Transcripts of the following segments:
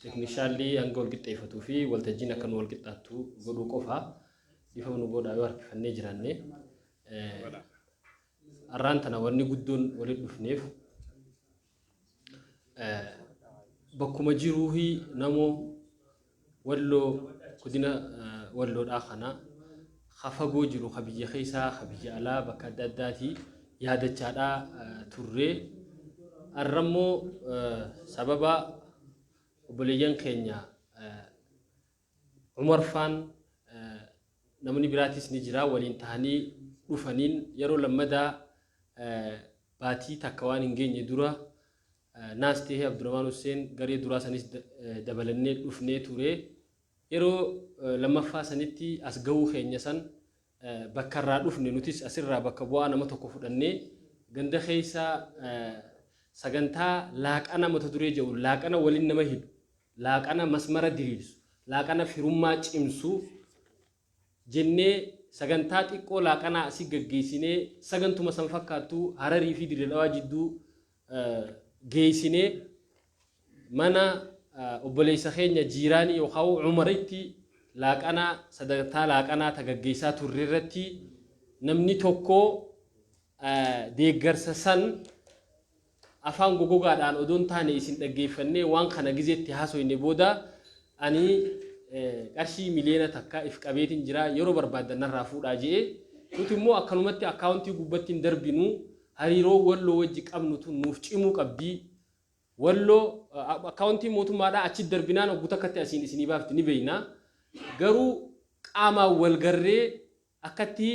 Teeknishaallii hanga wal qixxeeffatuu fi waltajjiin akka nu wal qixxaattu godhuu qofa dhiifama nu godhaa yoo harkifannee jiraanne. Har'aan tana wanni guddoon walitti dhufneef bakkuma jiruu namoo Walloo godina walloodhaa kana ka fagoo jiru ka biyya keessaa ka biyya alaa bakka adda addaatii yaadachaadhaa turree arrammoo sababa obboleeyyan keenya umarfaan namni biraatis ni jira waliin tahanii dhufaniin yeroo lammadaa baatii takka waan hin geenye dura naas tahee Abdurahmaan Husseen garee duraa sanis dabalannee dhufnee ture. Yeroo lammaffaa sanitti as gahuu keenya san bakka irraa dhufne nutis asirraa bakka bu'aa nama tokko fudhannee ganda keessa sagantaa laaqana mata duree jedhu laaqana waliin nama hidhu laaqana masmara diriirsu laaqana firummaa cimsu jennee sagantaa xiqqoo laaqanaa asi gaggeessinee sagantuma san fakkaattu Hararii fi Dirre Dhawaa jidduu geessinee mana obboleessa keenya jiiraanii yookaan Umaritti laaqanaa sagantaa laaqanaa ta gaggeessaa turre irratti namni tokko deeggarsa san Afaan gogogaadhaan odoo hin taane isin dhaggeeffannee waan kana gizee itti haasoyne booda ani qarshii miliyoona takka if qabeetin jira yeroo barbaaddan narraa fuudhaa je'e. Nuti immoo akkanumatti akkaawuntii gubbatti hin darbinu hariiroon Walloo wajji qabnu tun nuuf cimuu qabdi. Walloo akkaawuntiin mootummaadhaa achitti darbinaan oggu takkatti asiin isinii baafti ni beeyna. Garuu qaamaan wal garree akkatti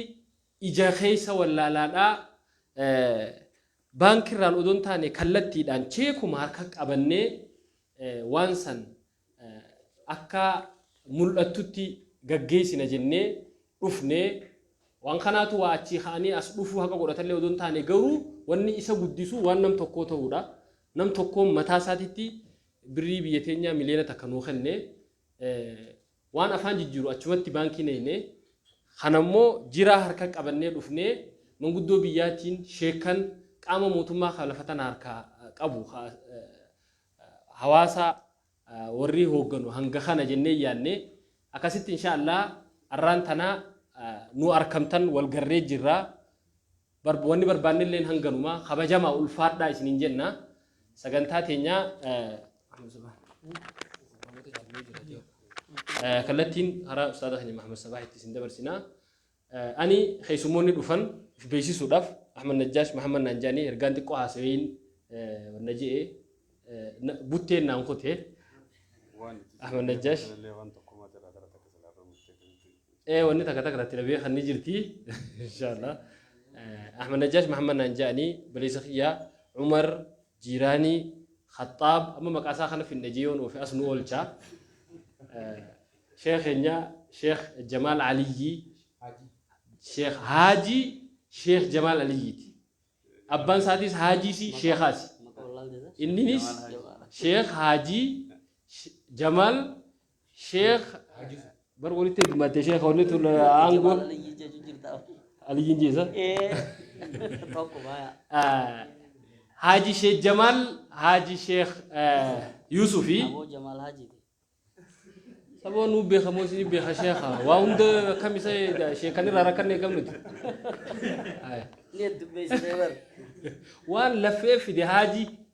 ija keessa wallaalaadhaa Baankirraan odoo hin taane kallattiidhaan cheekuma harka qabannee waan san akka mul'attutti gaggeessina jennee dhufne. Waan kanaatu waa achii ka'anii as dhufuu haqa godhatallee odoo hin taane garuu wanni isa guddisu waan nam tokkoo ta'uudha. Nam tokkoon mataa isaatitti birrii biyya teenyaa miliyoona takka nuu kenne. Waan afaan jijjiiru achumatti baankii nayne, kanammoo jiraa harka qabannee dhufnee manguddoo biyyaatiin, sheekkan, qaama mootummaa ka lafa tana harkaa qabu ka hawaasa warrii hoogganu hanga kana jennee yaanne, akkasitti inshaa allaah arraan tana nu arkamtan wal garree jirra. Barb wanni barbaannilleen hanganuma. Kabajamaa ulfaadhaa isiniin jenna. Sagantaa teenya kallattiin karaa Ustaaza keenya Mahamad Sabaahitti isin dabarsina. Ani keessummoonni dhufan of beeksisuudhaaf Ahmad Najjaash Mahamad naan jedhanii ergaan xiqqoo haasaweeyin wanna je'e butteen naan kute Ahmad Najjaash. Waan tokko mataa irraa gara takka salaataa murteeffamti. Ee wanni takka takka tatti dhabee kan ni jirti. Inshaallah. Ahmad Najjaash Mahammad naan ja'anii baleessa kiyyaa Umar Jiiraanii Khaxaab amma maqaa isaa kana finna jee yoon oofe as nu oolcha. Sheekh keenya Sheekh Jamaal Aliyyii Sheekh Haajii Sheekh Jamaal Aliyyiiti. Abbaan isaatiis Haajiisi Sheekhaasi. Inninis Sheekh Haajii Jamaal Sheekh bar walitti hidmatte sheekha wanni tun aangoo aliyyiin jeesa. Haaji Sheekh Jamaal Haaji Sheekh Yuusufi. Saboo nuu beeka moo isin beeka sheekha waa hunda akkam isa sheekan irraa rakkanne eegam nuti. Waan laffee fide haaji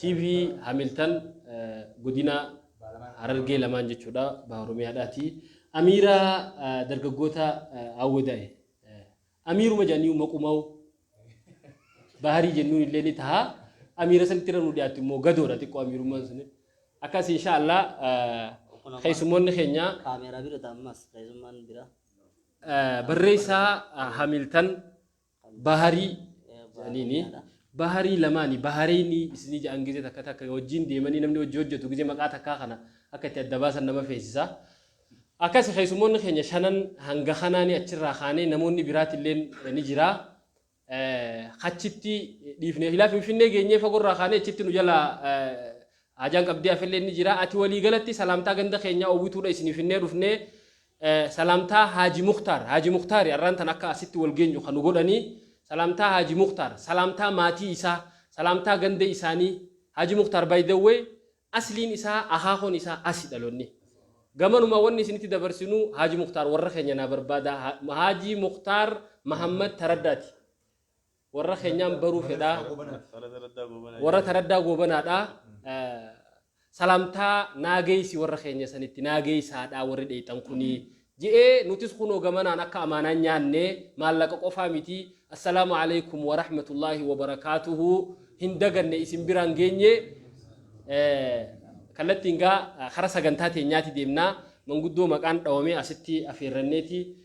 TV Hamiltan godina Harargee lamaan jechuudha baha Oromiyaadhaati. Amiira dargaggoota Awwadaa'e. Amiiruma jedhanii maqumaa'u baharii jennuun illee ni taha. Amiira sanitti irra nu dhiyaatu immoo gadoodha xiqqoo amiirummaan sun. Akkas inshaallah keessummoonni keenya Kaameeraa bira ta'a ammas keessummaan bira. barreessaa Hamiltan Baharii jedhaniini. Baharii lamaani bahareyni isinii jedhan gizee takka takka wajjiin deemanii namni wajji hojjatu gizee maqaa takkaa kana akka itti adda baasan nama feesisa. Akkasi keessummoonni keenya shanan hanga kanaani achirraa kaanee namoonni biraatilleen ni jira. Achitti dhiifne silaa Finfinnee geenyee fagorraa kaanee achitti nu jalaa haajaan qabdee hafelleen ni jira. Ati walii galatti salaamtaa ganda keenyaa Owwituudha isinii finnee dhufnee Salaamtaa Haaji Muktaar Haaji Muktaari arraan tana akka asitti wal geenyu ka nu godhanii Salaamtaa Haaji Muktaar Salaamtaa maatii isaa Salaamtaa ganda isaanii Haaji Muktaar by the way asliin isaa akaakoon isaa asi dhalonni gamanuma wanni isinitti dabarsinu Haaji Muktaar warra keenya naa barbaada Haaji Muktaar Mahammad Taraddaati warra keenyaan baruu fedhaa warra taraddaa goobanaadha salaamtaa naageessi warra keenya sanitti naageessaadha warri dheeyxan kunii je'ee nutis kunoo gamanaan akka amaanaan nyaanne maallaqa qofaa miti assalaamu alaikum warahmatullaahi wabarakaatuhu hin daganne isin biraan geenye kallattiin gaa kara sagantaa teenyaati deemnaa manguddoo maqaan dhawamee asitti afeerranneeti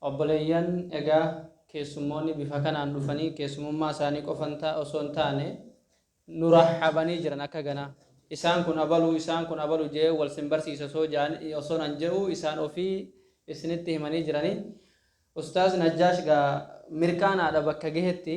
Obboleeyyan, egaa keessummoonni bifa kanaan dhufanii keessumummaa isaanii qofan ta, osoo hin taane, nu rahhabanii jiran akka ganaa. Isaan kun abalu, isaan kun abalu je'ee wal sin barsiisa osoo ja'an, osoo nan je'uu isaan ofii isinitti himanii jiranii. Ustaaz Najjaash gaa mirqaanaadha bakka gahetti.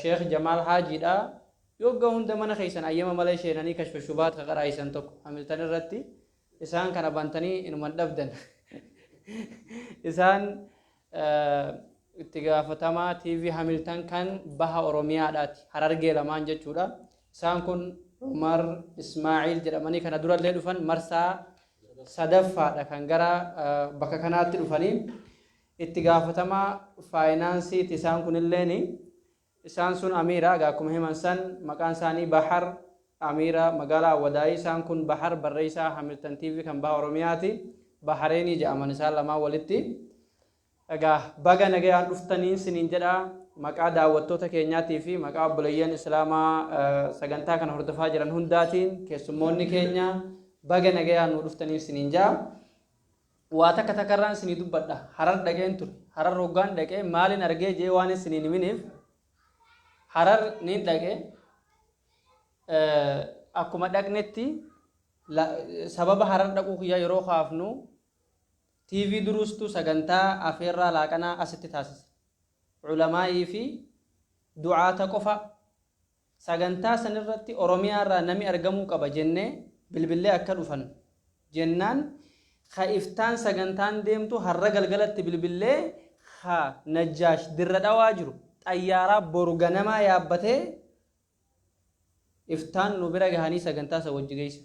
Sheikh Jamaal Haajii dha. Yogga hunda mana keessan ayyama malee sheenanii kashfa shubaat ka qaraayisan tokko hamiltan irratti isaan kana bantanii inuma hin dhabdan. Isaan itti gaafatamaa TV hamiltan kan baha Oromiyaa dhaati. Harargee lamaan jechuu dha. Isaan kun Umar Ismaaciil jedhamanii kana durallee dhufan marsaa sadaffaa dha kan gara bakka kanaatti dhufanii. Itti gaafatamaa faayinaansii ti isaan kun illeen. Isaan sun Amiira egaa akkuma himan san maqaan isaanii Bahar Amiira magaalaa Awwadaayii isaan kun Bahar barreessaa Hamilton TV kan baha Oromiyaa ti. Bahareenii jedhaman isaan lamaan walitti. Egaa baga nagayaan dhuftaniin siniin jedha maqaa daawwattoota keenyaatii fi maqaa obboleeyyan Islaamaa sagantaa kana hordofaa jiran hundaatiin keessummoonni keenya baga nagayaan nuu dhuftaniin siniin jedha. Waa takka takka irraan isinii dubbadha. Harar dhaqeen ture. Harar hoggaan dhaqe maalin argee jee waan isiniin himiniif Harar niin dhaqe akkuma dhaqnetti sababa Harar dhaquu kiyyaa yeroo kaafnu TV duruustu sagantaa afeerraa laaqanaa asitti taasise. Culamaa'ii fi du'aata qofa Sagantaa san irratti Oromiyaa irraa nami argamuu qaba jennee bilbillee akka dhufan jennaan ka iftaan sagantaan deemtu har'a galgalatti bilbillee ka Najjaash Dirre Dhawaa jiru xayyaaraa boru ganamaa yaabbatee iftaan nu bira gahanii sagantaa san wajji geessan.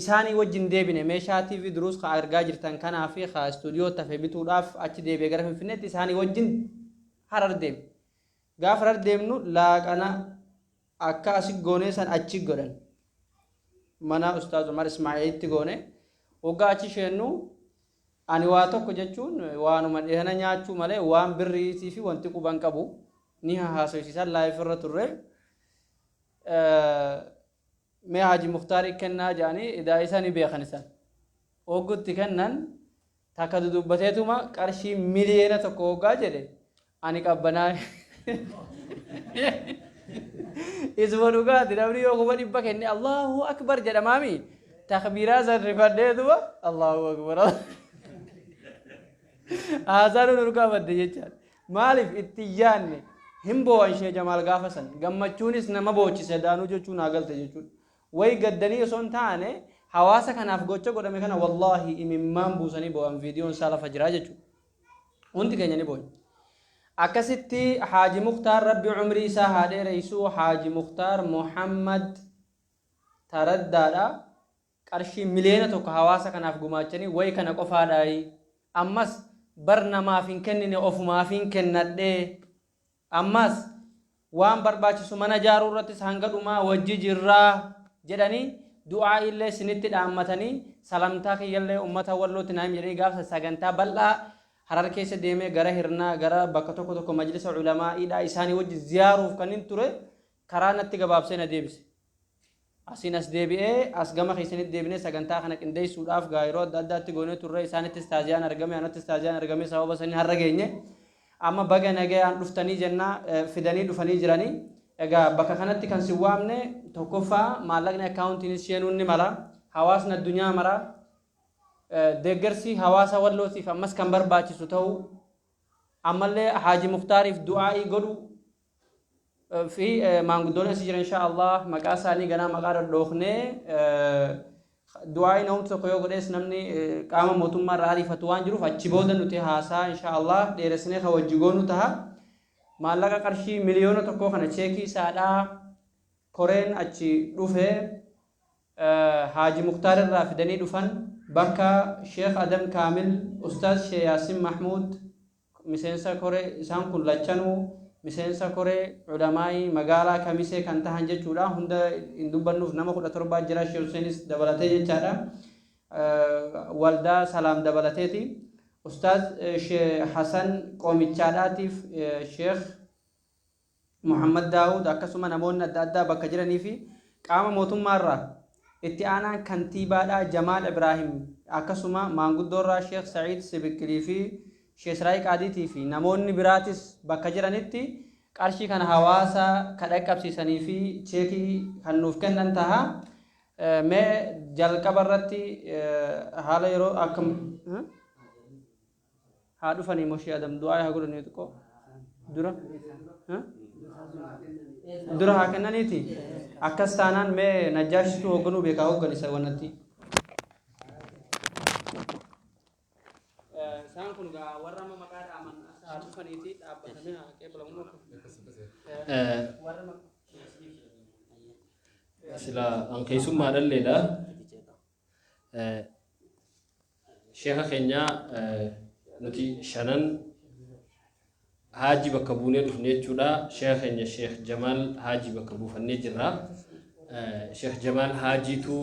isaanii wajji hin deebine. Meeshaa TV Duruus ka argaa jirtan kanaa fi ka istuudiyootti hafe bituudhaaf achi deebi'e gara Finfinneetti isaanii wajjin Harar deeme. Gaafa Harar deemnu laaqana akka asi goonee san achi godhan. Mana Ustaaz Umar Ismaa'ilitti goone. Waggaa achi sheennu ani waa tokko jechuun waanuma dhihana nyaachuu malee waan birriitii fi wanti quban qabu ni haasoysiisan laayif irra turre. mee haaji muktaari kennaa jedhanii idaa isa ni beekan isan hoggutti kennan takka dudubbateetuma qarshii miliyeena tokko hoggaa jedhe ani qabbanaa isuma dhugaati namni yoo kuma dhibba kenne allahu akbar jedhamaami takbiiraa san rifadheetuma allahu akbar haasaan nurgaa badde jechaan Maaliif itti hin yaadne? Hin boo'an Shee Jamaal gaafa san. Gammachuunis nama boochise Daanuu jechuu naa galte jechuudha. Wayi gaddanii osoo hin taane hawaasa kanaaf gocha godhame kana wallaahi imimmaan buusanii boo'an viidiyoon isaa lafa jira jechuudha. Hundi keenya ni boonya. Akkasitti Haaji Muktaar Rabbi umrii isaa haa dheereessu Haaji Muktaar Muhammad Taraddaadha. qarshii miliyoona tokko hawaasa kanaaf gumaachanii wayi kana qofaadhaayi ammas bar namaaf hin kennine ofumaafin kennadhe ammas waan barbaachisu mana ijaaruu irrattis hanga dhumaa wajji jirra jedhanii du'aa'ii illee sinitti dhaammatanii salamtaa kiyya illee ummata wallootti naa himi jedhanii gaafsa sagantaa bal'aa harar keessa deemee gara hirnaa gara bakka tokko tokko majlisa ulamaa'idhaa isaanii wajji ziyaaruuf kanin ture karaa natti gabaabsee na deebise. Asiin as deebi'ee as gama keessanitti deebinee sagantaa kana qindeessuudhaaf gaa yeroo adda addaatti goonee turre isaanittis taaziyaan argame anattis taaziyaan argame sababa sanii har'a geenye. Amma baga nagayaan dhuftanii jennaa eh, fidanii dhufanii jiranii. Egaa bakka kanatti kan si waamne tokkoffaa maallaqni akkaawuntiinis seenuun ni mala. Hawaasni addunyaa mara eh, deeggarsi hawaasa wallootiif ammas kan barbaachisu ta'uu ammallee Haaji Muktaariif du'aa'ii godhu fi maanguddoon asi jiran inshaa Allah maqaa isaanii ganaa maqaa dhadhoofnee du'aayi namni tokko yoo godhees namni qaama mootummaa irraa ariifatu waan jiruuf achi booda nuti haasaa inshaa Allah dheeressinee kan wajji goonu taha maallaqa qarshii miliyoona tokkoo kana cheekii isaadhaa koreen achi dhufe haaji muktaar irraa fidanii dhufan bakka sheekh adam kaamil ustaaz shee yaasin mahmuud Miseensa koree, isaan kun lachanuu miseensa koree Ulamaa'ii magaalaa Kamisee kan tahan jechuu dha. Hunda hin dubbannuuf nama 17 jira Sheeh Huseenis dabalatee jechaa dha. Waldaa Salaam dabalatee ti. Ustaaz Sheeh Hasan Qoomichaadhaatiif Sheeh. Muhammad Daawud akkasuma namoonni adda addaa bakka jiranii fi qaama mootummaa irraa Itti aanaan Kantiibaadhaa Jamaal Ibraahim akkasuma maanguddoorraa Sheekh Sa'iid Sibikkilii fi Sheekh Siraay Qaadiitii fi namoonni biraatis bakka jiranitti qarshii kana hawaasa ka dhaqqabsiisanii fi cheekii kan nuuf kennan taha. Mee jalqaba irratti haala yeroo akka haa dhufanii moo shee adam du'aa haa godhanii xiqqoo dura ha? dura haa kennaniiti akkas taanaan mee najjaashitu hoogganuu beekaa hoogganisa wannatti isaan kun gaa warra amma maqaa dhaaman as haa dhufaniiti dhaabbatamee haa qeebalamu sila an keessummaa dhalleedha Sheekha keenya nuti shanan haajii bakka buunee dhufne jechuudha. Sheekha keenya Sheekh Jamaal haajii bakka buufannee jirra. Sheekh Jamaal haajiitu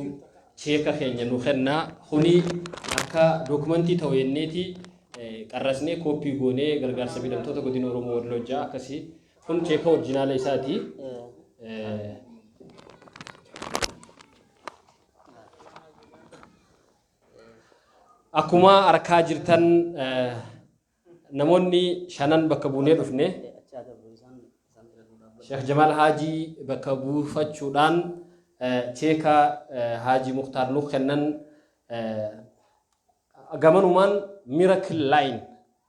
sheeka keenya nu kenna. Kuni akka dookumentii ta'u jenneeti qarrasnee kooppii goonee gargaarsa miidhamtoota godina Oromoo Walloo ja'a akkasii. Kun sheeka orjinaala isaati. Akkuma arkaa jirtan eh, namoonni shanan bakka buunee dhufne Sheekh Jamaal Haajii bakka buufachuudhaan eh, cheeka eh, Haajii Muktaar nuuf kennan eh, gamanumaan Miracle Line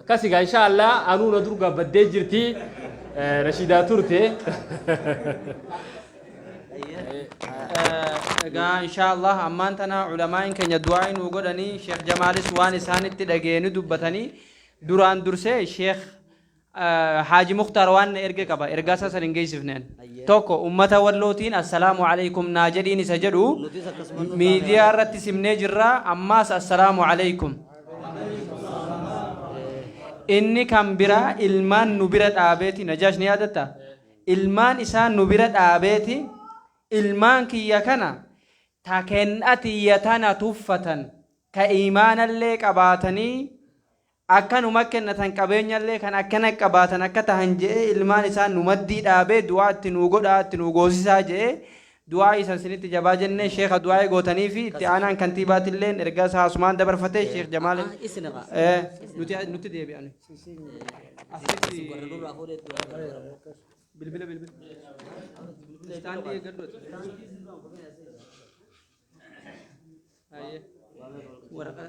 Akkasi gaa insha Allah anuu na durgaa baddee jirti eh, Rashidaa turte. Egaa inshaallah ammaan tana ulamaa'in keenya du'aa nuu godhanii Sheekh Jamaalis waan isaanitti dhageenyu dubbatanii duraan dursee Sheekh Haaji Muktaar waan erge qaba ergaa isaa san hin geessifne an. Tokko ummata Wallootiin assalaamu aleykum naa jedhiin isa jedhu miidiyaa irratti simnee jirra ammaas assalaamu aleykum. Inni kan biraa ilmaan nu bira dhaabeeti Najaash ni yaadatta? Ilmaan isaa nu bira dhaabeeti ilmaan kiyya kana ta ken'atiyya tana tuffatan ta iimaanallee qabaatanii Akka nu makkennatan qabeenyallee kan akkana qabaatan akka tahan je'ee ilmaan isaa nu maddii dhaabee du'aa itti nuu godhaa itti nuu goosisaa je'ee du'aa'ii san sinitti jabaa jennee sheekha du'aa'ii gootaniifi itti aanaan kantiibaatilleen ergaa isaa asumaan dabarfatee sheekh jamaal Ah, isin irraa. Eh, nuti nutti deebi'an Isin warra nurraa fuudhee itti waamame. bilbila bilbila istaandii eeggadhu Ayyee. waraqaa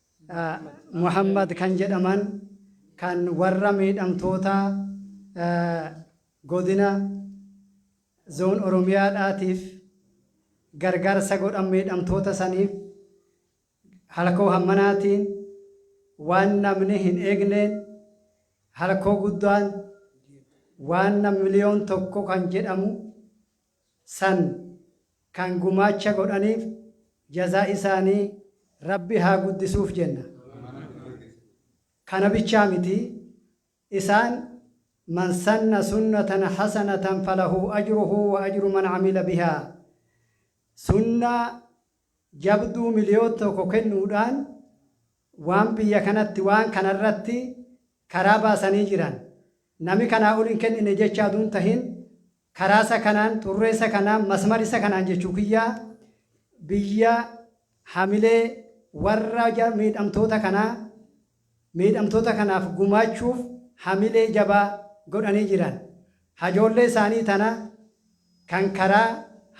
Muhammad kan jedhaman kan warra miidhamtoota Godina Zone Oromiyaa dhaatiif gargaarsa godhan miidhamtoota saniif halkoo hammanaatiin waan namni hin eegneen halkoo guddaan waan miliyoon tokko kan jedhamu san kan gumaacha godhaniif jazaa isaanii Rabbi haa guddisuuf jenna. Kana bichaa miti, isaan Man sanna sunnatan hasanatan falahu ajruhu wa ajru man amila bihaa sunnaa jabduu miliyoon tokko kennuudhaan, waan biyya kanatti waan kana irratti karaa baasanii jiran nami kanaa ol hin kennine jechaa utuu hin tahin karaa isa kanaan xurree isa kanaan masmar isa kanaan jechuu kiyyaa biyya hamilee warra ja- miidhamtoota kanaa miidhamtoota kanaaf gumaachuuf hamilee jabaa godhanii jiran hajoollee isaanii tana kan karaa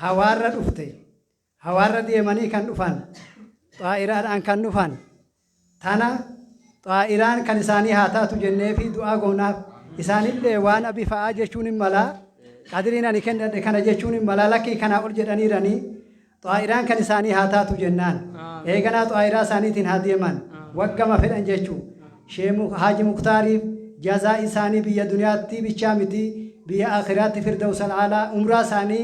hawaarra dhufte Hawaarra deemanii kan dhufan, xaa'iraadhaan kan dhufan, tana xaa'iraan kan isaanii haa taatu jenneefi du'aa goonaaf. Isaanillee waan abi fa'aa jechuun hin malaa, qadriin ani kennadhe kana jechuun hin malaa, lakkii kanaa ol jedhaniiranii, xaa'iraan kan isaanii haa taatu jennaan. Eeganaa xaa'iraa isaaniitiin haa deeman, waggama fedhan jechuu. Sheekh Haaji Muktaariif jazaa isaanii biyya duniyaatti bichaa miti, biyya aakhiraatti firdawsal a'laa umraa isaanii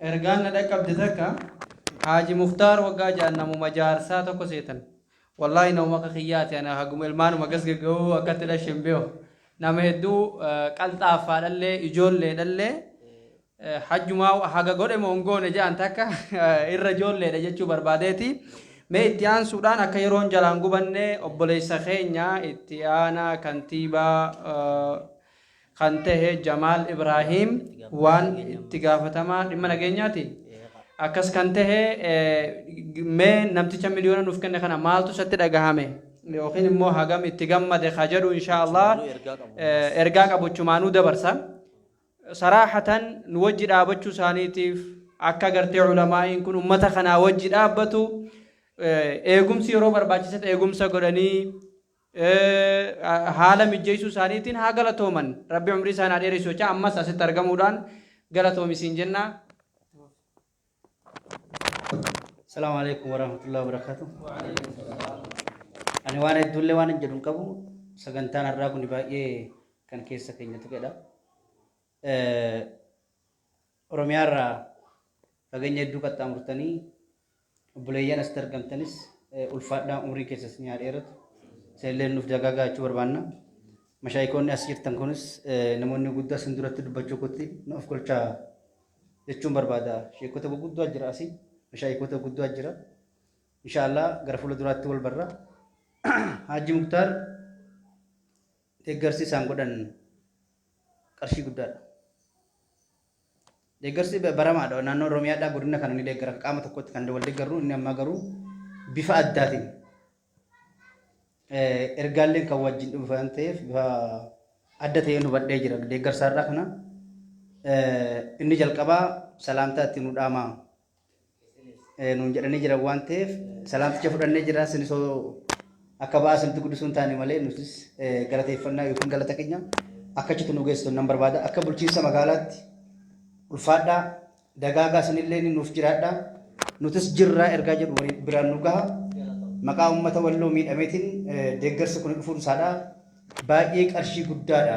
Ergaan na dhaqqabde takka, Haaji Muktaar waggaa ja'an namuma jaarsaa tokko seetan. Wallaahi namuma akka kiyyaati ani haguma ilmaanuma gas gaggahu akka itti dhashe hin beeku. Nama hedduu qalxaaffaadhallee ijoolleedhallee hajjumaa haga godhe moo hin goone ja'an takka irra ijoolleedha jechuu barbaadeeti. Mee itti aansuudhaan akka yeroon jalaan gubanne obboleessa keenya itti aanaa kantiibaa kan tahe Jamaal Ibraahiim waan itti gaafatamaa dhimma nageenyaati. Akkas kan tahe mee namticha miliyoona nuuf kenne kana maaltu isatti dhagahame yookiin immoo hagam itti gammade ka jedhu inshaa Allah ergaa qabuchumaanuu dabarsa. Saraahatan nu wajji dhaabachuu isaaniitiif akka gartee ulamaa'iin kun ummata kanaa wajji dhaabbatu eegumsi yeroo barbaachisetti eegumsa godhanii haala mijjeessuu isaaniitiin haa galatooman. Rabbi umrii isaan haa dheeressu jechaa ammas asitti argamuudhaan galatoomi siin jenna. Salaamu alaikum warahmatullahi wabarakatuh. Ani waan hedduullee waan hin jedhu hin qabu. Sagantaan har'aa kun baay'ee kan keessa keenya tuqedha. Oromiyaa irraa fageenya hedduu qaxxaamurtanii obboleeyyan asitti argamtanis ulfaadhaa umriin keessa isin haa dheeratu. Isinillee nuuf dagaagaa jechuu barbaanna. Mashaayikoonni as jirtan kunis namoonni guddaa isin duratti dubbachuu kootti nu of kolchaa jechuun barbaada. Sheekota gurguddaa jira asii. Mashaayikoota gurguddaa jira. Inshaallah gara fuula duraatti wal barra. Haaji Muktaar Deeggarsi isaan godhan qarshii guddaadha. Deeggarsi baramaadha. Naannoo Oromiyaadhaa godina kana ni deeggara. Qaama tokkotti kan wal deeggarru inni ammaa garuu bifa addaatiin ergaalleen kan wajjin dhufu waan ta'eef bifa adda ta'een hubadhee jira. Deeggarsaarraa kana inni jalqabaa salaamtaa itti nu dhaamaa nuun jedhanii jiran waan ta'eef salaamticha fudhannee jira isin osoo akka ba'aa isinitti guddisuu hin taane malee nutis galateeffannaa yookiin galata keenya akka achitti nu geessitu nan barbaada akka bulchiinsa magaalaatti ulfaadhaa dagaagaa isinillee nuuf jiraadhaa nutis jirraa ergaa jedhu walii biraan nu gaha maqaa uummata walloo miidhameetiin deeggarsi kun dhufuun isaadhaa baay'ee qarshii guddaadha.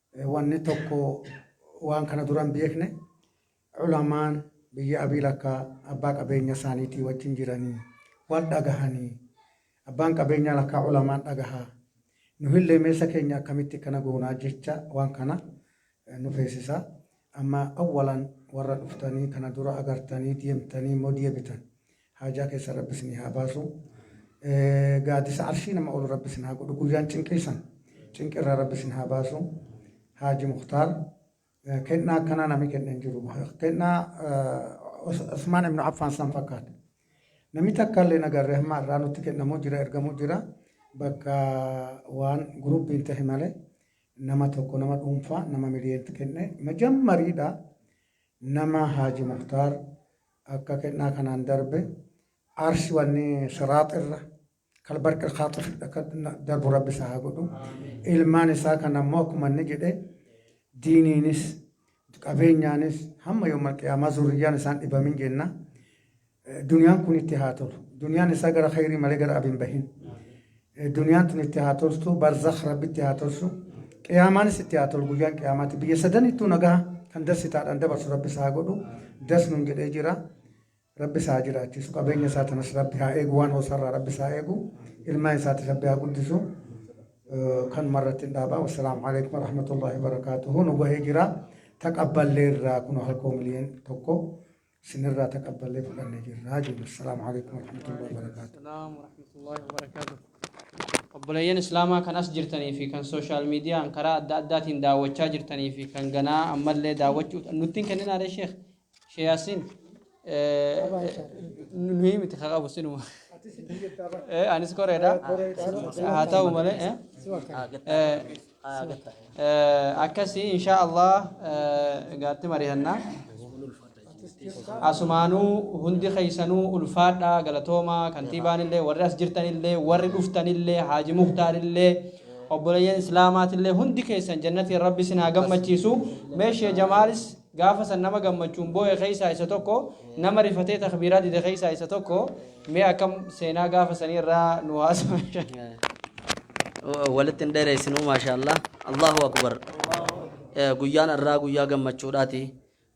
wanni tokko waan kana dura hin beekne ulamaan biyya abiil akka abbaa qabeenya isaaniitii wajjin jiranii wal dhagahanii abbaan qabeenyaa lakkaa ulamaan dhagahaa nuhillee meessa keenya akkamitti kana goonaa jecha waan kana nu feesisa amma awwalan warra dhuftanii kana dura agartanii deemtanii immoo deebitan Haajaa keessan Rabbi isinii haa baasu. Gaaddisa arshii nama ol Rabbi isin haa godhu. Guyyaan cinqii san cinqii irraa Rabbi isin haa baasu. Haaji Muktaar kennaa akkanaa namni kenne hin jiru. Kennaa Usmaan Ibnu Affaan san fakkaata. Namni takka illee nagarree hamma irraa nutti kennamu jira ergamu jira. Bakka waan guruppiin ta'e malee nama tokko nama dhuunfaa nama miliyeetti kenne majammariidha. Nama Haaji Muktaar Akka kennaa kanaan darbe aarsi wanni siraax irra kalbarq alkhaaxif akka darbu rabbi isaa haa godhu ilmaan isaa kan ammoo akkuma inni jedhe diiniinis qabeenyaanis hamma yooma qiyaamaa zurriyyaan isaan dhibamin jenna duniyaan kun itti haa tolu duniyaan isaa gara khayrii malee gara abin bahin Duniyaan tun itti haa toltu, barzakh Rabbi itti haa tolchu, qiyaamaanis itti haa tolu guyyaan qiyaamaatti. Biyya sadanittuu nagaa kan darsitaadhaan dabarsu Rabbi isaa haa godhu. Das nun jedhee jira. Rabbi isaa haa jiraachisu. Qabeenya isaa tanas Rabbi haa eegu. Waan hoosarraa Rabbi isaa haa eegu. Ilmaan isaatis Rabbi haa guddisu. Eh, Kanuma irratti hin dhaabaa. Wassalaamu alaikum warahmatullahi wabarakaatuhu. Nu gahee jira. Taqabballee irraa kun halkoo miliyoon tokko. Sinirraa taqabballee fudhannee jirraa jenna. Assalaamu alaikum warahmatullahi wabarakaatu. Assalaam warahmatullahi wabarakaatu. Obboleeyyan Islaamaa kan as jirtanii fi kan sooshaal miidiyaan karaa adda addaatiin daawwachaa jirtanii fi kan ganaa ammallee daawwachuu nutti hin kenninaalee sheekh Sheekh Yaasiin nuyi miti haa qabu sinuma. Eh, Anis koreedha. Haa ta'u malee. eh. akkasi insha allah gaatti marihanna asumaanuu hundi keessanuu ulfaadha galatooma kantiibaanillee warri as jirtanillee warri dhuftanillee haaji muhtaarillee obboleeyyan islaamaatillee hundi keessan jannatiin rabbi isin haa gammachiisu meeshee jamaalis gaafa san nama gammachuun boo'e keessaa isa tokko nama rifatee takbiiraa dide keessaa isa tokko Mee akkam seenaa gaafa sanii irraa nu haasa. walitti hin dheereessinuu maashaallah allahu akbar Eh, guyyaan irraa guyyaa gammachuudhaati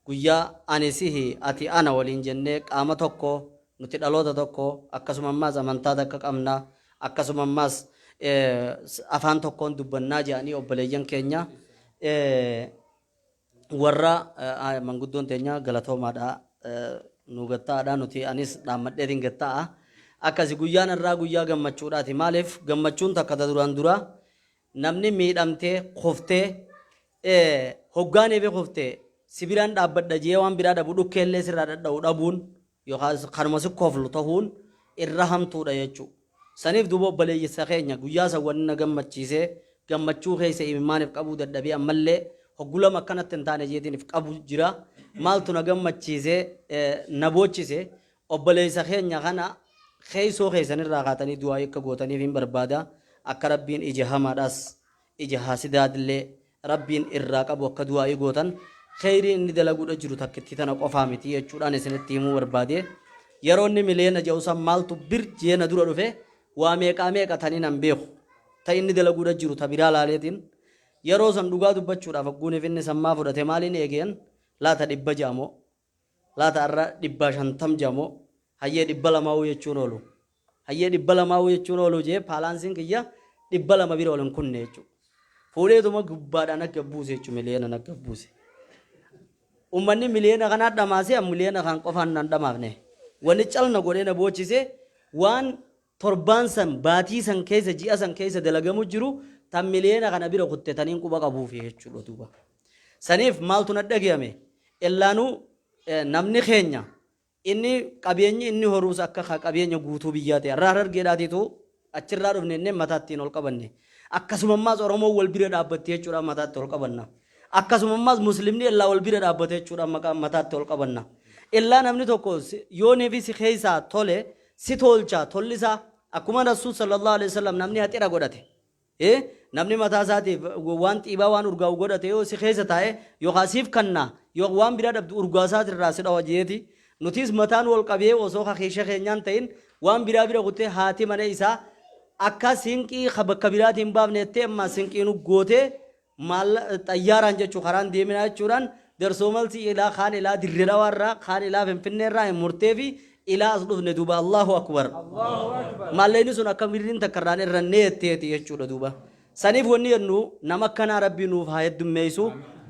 guyyaa ani sihi ati ana waliin jennee qaama tokko nuti dhaloota tokko akkasuma ammaas amantaa takka qabna akkasuma ammaas eh, s- afaan tokkoon dubbannaa jedhanii obboleeyyan keenya Eh, Warra manguddoon teenya galatoomaadha nuu gatta'aadha nuti anis dhaammadheetiin gatta'a. Akkasi guyyaan irraa guyyaa gammachuudhaati maaliif gammachuun takka ta duraan duraa namni miidhamtee kuftee hoggaanee fi kuftee sibiraan dhaabbadha jee waan biraa dhabu dhukkeellee sirraa dhadha'u dhabuun yookaas kanuma si koflu tahuun irra hamtuudha jechuu. Saniif duuba obboleeyyssa keenya guyyaa san wanni na gammachiisee gammachuu keessa imimmaaniif qabuu dadhabee ammallee hoggu lama akkanatti hin taane jeetiinif qabu jira. Maaltu na gammachiise na boochise obboleeysa keenya kana keeysoo keeysan irraa kaatanii du'aa'ii akka gootaniifiin barbaada akka Rabbiin ija hamaadhaas ija haasidaadllee Rabbiin irraa qabu akka du'aa'ii gootan, kheeyrii inni dalaguudha jiru takkittii tana qofaa miti jechuudhaan isinitti himuu barbaade. Yeroo inni mileena ja'u san maaltu bir jee na dura dhufe, waa meeqaa meeqa tan inan beeku, ta inni dalaguudha jiru ta biraa laaleetiin, yeroo san dhugaa dubbachuudhaaf hagguun ifinni san maa fudhate maaliin eegeen laata dhibba ja'a moo? Laata arra dhibbaa shantam jea moo? Hayyee dhibba lamauu jechuun oolu. Hayyee dhibba lamauu jechuun oolu jee paalaansiin kiyya dhibba lama bira ol hin kunne jechuu. Fuudheetuma gubbaadhaa nagga buuse jechuu miliyoona nagga buuse. Ummanni miliyoona kanaa dhamaasee an miliyoona kan qofaan nan dhamaafne. Wani cal na godhee na boochise waan torbaan san, baatii san keessa, ji'a san keessa dalagamu jiru tan miliyoona kana bira kutte tan hin quba qabuufi jechuudha duuba. Saniif maaltu na dhagayame? Illaanuu namni keenya inni qabeenyi inni horuus akka ka qabeenya guutuu biyyaa ta'e irraa harargeedhaatiitu achirraa dhufne inneen mataattiin ol qabanne. Akkasuma ammaas Oromoon wal bira dhaabbatte jechuudhaan mataatti ol qabanna. Akkasuma ammaas Muslimni illaa wal bira dhaabbate jechuudhaan maqaa mataatti ol qabanna. Illaa namni tokko yoonii fi si keessaa tole si tolcha tolli isaa akkuma Rasuul sallallahu alaihi wasallam namni haxira godhate e namni mataa isaatiif waan xiibaa waan urgaa'u godhate yoo si keessa taa'e yookaan siif kanna yoo waan biraa dhabdu urgaa isaati irraa si dhawa jeeti nutiis mataan wal qabee osoo kakiisha keenyaan ta'in waan biraa bira kuttee haati mana isaa akka sinqii ka bakka biraatiin baafne jettee ammaa sinqiin uggootee Maalla, xayyaaraan jechuun karaan deeminaa jechuudhaan Darsomalsii ilaa kaan ilaa Dirre Dhawaa irraa kaan ilaa Finfinnee irraa hin murteefi ilaa as dhufne duuba Allahu Akbar. Maallayni sun akka birriin takka irraan irrannee jetteeti jechuudha duuba. Saniif wanni jennu nama akkanaa rabbii nuuf haa heddummeessu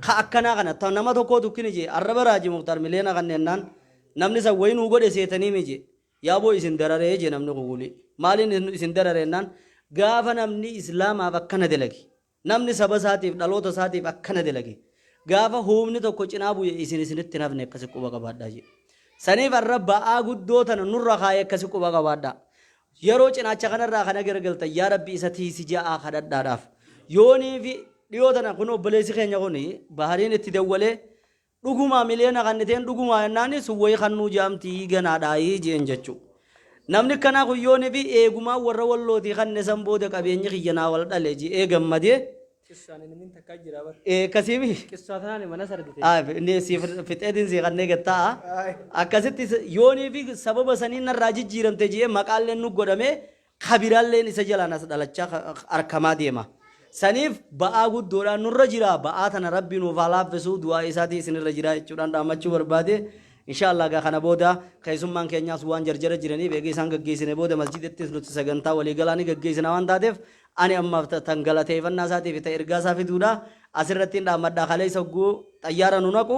ka akkanaa kana ta nama tokkoo tukkini jee arraba raaji muktaar miliyoona kan jennaan namni san wayii nuu godhe seetanii mi jee yaaboo isin dararee jee namni kun wulii maaliin isin dararee jennaan gaafa namni islaamaaf akkana dalage Namni saba isaatiif, dhaloota isaatiif akkana dalage, gaafa huubni tokko cinaa bu'e isin isinitti hin hafne akkasi quba qabaadhaa jedhe. Saniif arra ba'aa guddoo tana nurra kaaye akkasi quba qabaadhaa. Yeroo cinaacha kanarraa kana garagaltan yaa Rabbi isa tiisi ja'aa kadhadhaadhaaf. Yooniifi dhiyoo tana kun obboleessi keenya kun Bahariin itti dawwalee Dhugumaa miliyoona kanniteen dhugumaa jennaani sun wayii kannuu jaamtii ganaadhaayii jeen jechuu. Namni akkanaa kun yoonii fi eegumaan warra wallootii kanne san booda qabeenyi kiyya naa wal dhale je'ee gammadee. Qissaan inni min takkaa jiraa bar. Ee akkasiimi. Qissaa tanaan mana sardite. Aaf inni siif fixeetiin sii kannee gatta'a. Akkasitti yoonii fi sababa saniin narraa jijjiiramte je'ee maqaalleen nu godhamee ka biraalleen isa jalaan as dhalachaa ka- ka- arkamaa deema. Saniif ba'aa guddoodhaan nurra jira. Ba'aa tana Rabbi nuuf haa laaffisuu du'aa isaatii isinirra jira jechuudhaan dhaammachuu barbaade. Inshaallah egaa kana booda keessummaan keenyaas waan jarjara jiraniif eegee isaan gaggeessine booda masjidattis nuti sagantaa waliigalaa ni gaggeessina waan taateef ani ammaaf ta- tan galateeffannaa isaatiif ta ergaa isaa fiduudha. Asirrattiin dhaammadhaa kaleessa hogguu xayyaara nu naqu.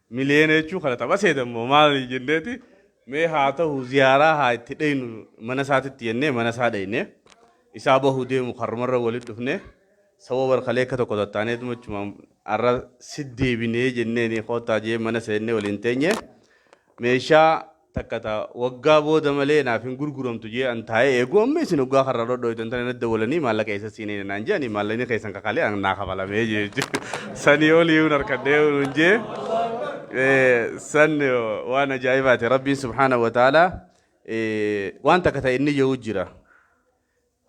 Miliyeena jechuun kana tapha seetan moo maali jenneeti mee haa ta'u ziyaaraa haa itti dhaynu mana isaatitti jennee mana isaa dhayne isaa bahuu deemu karrumarra walitti dhufne sawwa barkalee akka tokko tattaanee tumachuma arra siddeebinee jenneeni koottaa jee mana seennee waliin teenye meeshaa takka ta waggaa booda malee naaf hin gurguramtu jee an taa'ee eegu amma isin waggaa karra dhodhoydan tana na dawalanii maallaqa eessa siinee naan jeani maallaqni keessan kakalee an naa kafalamee jee jechuudha sanii olii hin harkadhee hin jee san waan ajaa'ibaati rabbiin subhaanahu wa ta'ala waan takka ta'e inni jehu jira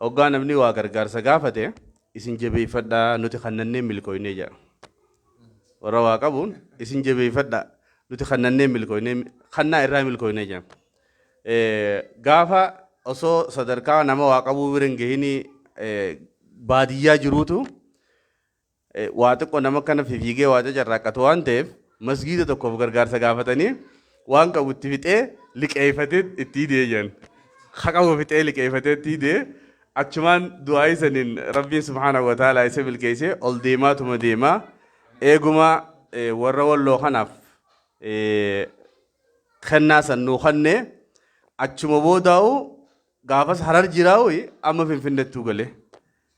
Hoggaa namni waa gargaarsa gaafate isin jabeeffadhaa nuti kannannee milkooynee jedha. Warra waa qabuun isin jabeeffadhaa nuti kannannee milkooynee kannaa irraa milkooynee jedha. Gaafa osoo sadarkaa nama waa qabuu bira hin gahinii baadiyyaa jiruutu waa xiqqo nama akkana fifiigee waa cacarraaqqatu waan ta'eef masgiida tokkoof gargaarsa gaafatanii waan qabu itti fixee liqeeffatee itti hidee jedhan. Ha qabu fixee liqeeffatee itti hidee achumaan du'aa isaniin rabbiin subhaanahu wa ta'ala isa milkeessee ol deemaatuma deemaa eeguma eh, warra walloo kanaaf eh, kennaa san nuu kenne achuma boodaa'u gaafas harar jiraa'u amma finfinnettuu galee.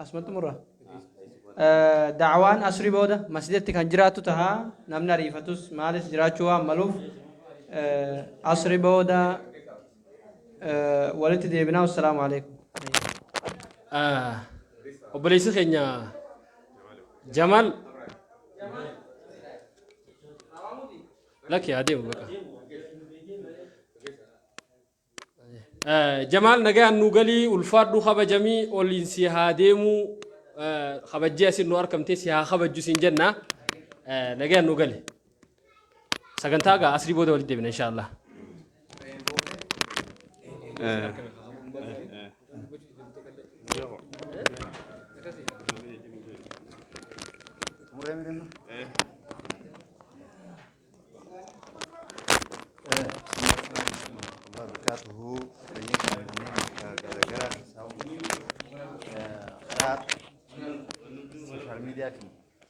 Asuma xumura. Da'awaan asrii booda masjidatti kan jiraattu taha namni ariifatus maalis jiraachuu waan maluuf asrii booda walitti deebinaa wassalaamu alaikum. Obboleessi keenya Jamaal lakki haa deemu baqa. Jamaal nagayaan nuu galii ulfaadhuu kabajamii oliin si haa deemuu kabajjee asin nu arkamtee si haa kabajju siin jenna nagayaan nuu gali sagantaa gaa asrii booda walitti deebina inshaallah. Muree muree.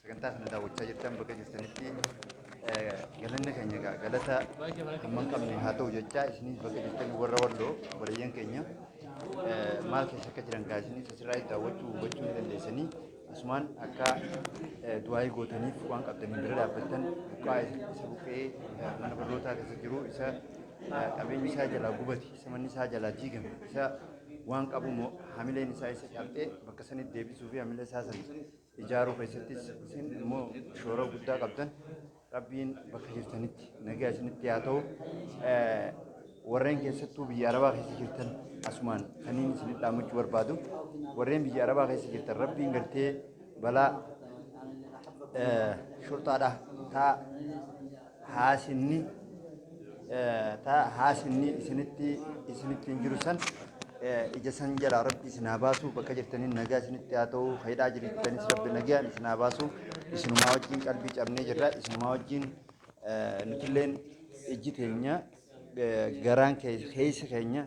sagantaa kana daawwachaa jirtan bakka jirtanitti galanni keenya egaa galata hamman qabne haa ta'u jechaa isinis bakka jirtan warra walloo obboleeyyan keenya maal keessa akka jiran gaa isinis asirraa daawwachuu hubachuu ni dandeessanii. Asumaan akka du'aayii gootaniif waan qabdaniin bira dhaabbattan buqqaa'e isa buqqee mana barnootaa keessa jiru isa qabeenyi isaa jalaa gubate isa manni isaa jalaa diigame isa waan qabu moo hamileen isaa isa cabxee bakka sanitti deebisuu fi hamila isaa san ijaaruu keessattis isin immoo shoora guddaa qabdan Rabbiin bakka jirtanitti nagaa isinitti haa ta'u. Warreen keessattuu biyya Arabaa keessa jirtan asumaan kaniin isin dhaamachuu barbaadu. Warreen biyya Arabaa keessa jirtan rabbiin gartee balaa shorxaadha taa haasinni ta haasinni isinitti isinitti hin jiru san ija san jalaa rabbi isin haa baasu bakka jirtaniin nagaa isinitti haa ta'u hidhaa jirtanis rabbi nagaan isin haa baasu isinumaa wajjin qalbii cabnee jirra isinumaa wajjin nutilleen ijji teenya garaan keessi keenya